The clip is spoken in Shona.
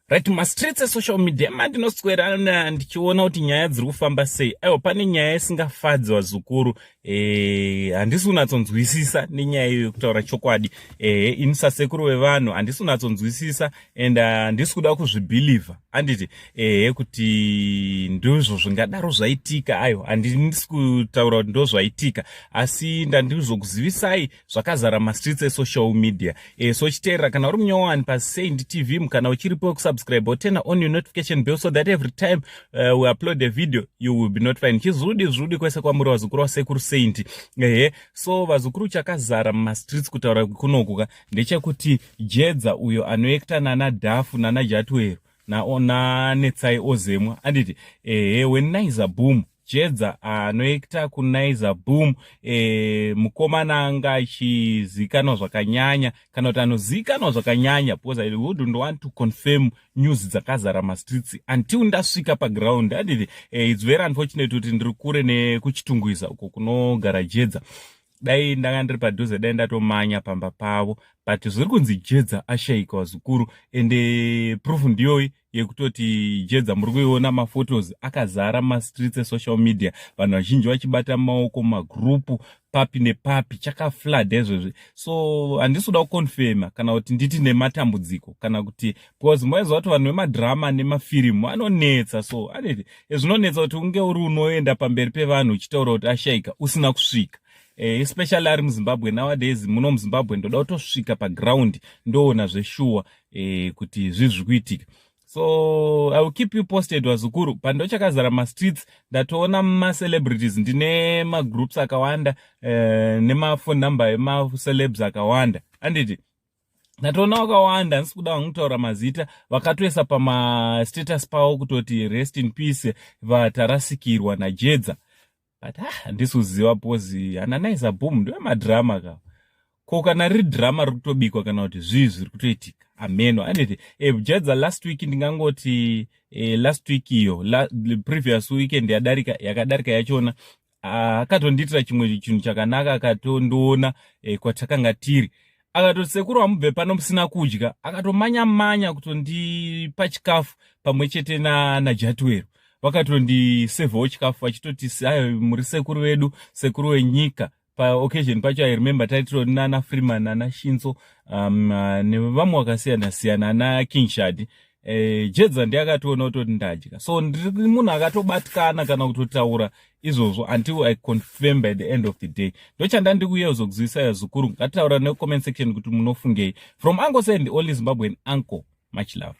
right mastreets esocial media mandinoswera ndichiona kuti nyaya dziri kufamba sei aiwa pane nyaya isingafadzi vazukuru eh, handisi e, kunatsonzwisisa nenyaya iyo yekutaura chokwadi e, eh, ini sasekuru vevanhu handisi kunatsonzwisisa and ah, handisi kuda kuzvibhilivha handiti ehe eh, kuti ndizvo zvingadaro zvaitika aiwa handisi kutaura kuti ndozvaitika asi ndandizokuzivisai zvakazara mastreets esocial media e, so chiteerera kana uri munyowani pasaint tv kana uchiripo wekusubscribe wotena on your notification bell so that every time uh, we upload a video you will be notified chizvudi zvudi kwese kwamuri vazukuru vasekuru saint ehe so vazukuru chakazara mumastreets kutaura kunokuka ndechekuti jedza uyo anoekta nana dhafu nana jatwero nanetsai ozemwa anditi ehe wenaiza boom jedza anoekta ah, kunaiza boom e, mukomana anga achizikanwa zvakanyanya kana kuti anozikanwa zvakanyanya because i wouldn't want to confirm news dzakazara mastreets until ndasvika paground anditi e, eh, its very unfortunate kuti ndiri kure nekuchitungwiza uko kunogara jedza dai ndanga ndiri padhuze dai ndatomanya pamba pavo but zviri kunzi jedza ashaika wazukuru ende eh, proof ndiyoyi yekutoti jedza muri kuiona maphotos akazara mumastreets esocial media vanhu vazhinji vachibata maoko magrupu papi nepapi chakaflad ezvezvi so handisi kuda kuconfirma kana kuti nditi nematambudziko kana kuti because maiziva kuti vanhu vemadhirama nemafirimu anonetsa so aneti eh, zvinonetsa kuti unge uri unoenda pamberi pevanhu uchitaura kuti ashaika usina kusvika eh, especially ari muzimbabwe nowadays muno muzimbabwe ndoda kutosvika paground ndoona zveshuwa eh, kuti zvii zviri kuitika so i will keep you posted wazukuru pandochakazara mastreets ndatoona macelebrities ndine magroups akawanda eh, nemafone number emacelebs akawanda anditi ndatoona vakawanda handisi kuda vangu kutaura mazita vakatoisa pamastatus pavo kutoti rest in peace vatarasikirwa najedza but ah, handisi kuziva bcozi hananaisa boom ndiwe madrama ka ko kana riri drama riri kutobikwa kana kuti zvii zviri kutoitika ameno anditi eh, jedza last week ndingangoti eh, last week iyo la, previous weekend yadarika yakadarika yachona ah, akatondiitira ah, chimwe chinhu chakanaka akatondiona eh, kwatakanga tiri akatoti sekuru hamubve pano musina kudya akatomanya manya kutondipa chikafu pamwe chete najatuwero vakatondisevhawo chikafu vachitoti ayo muri sekuru vedu sekuru wenyika paoccasion pacho i remember taitiro nana freeman ana shinso um, nevamwe vakasiyana siyana ana king shadi eh, jedza ndiye akationa kutoti ndadya so ndiri munhu akatobatikana kana kutotaura izvozvo until i confirm by the end of the day ndochanda ndiri kuuya kuzokuzivisa yazukuru ngatitaura necomment section kuti munofungei from uncle send only zimbabwean uncle much love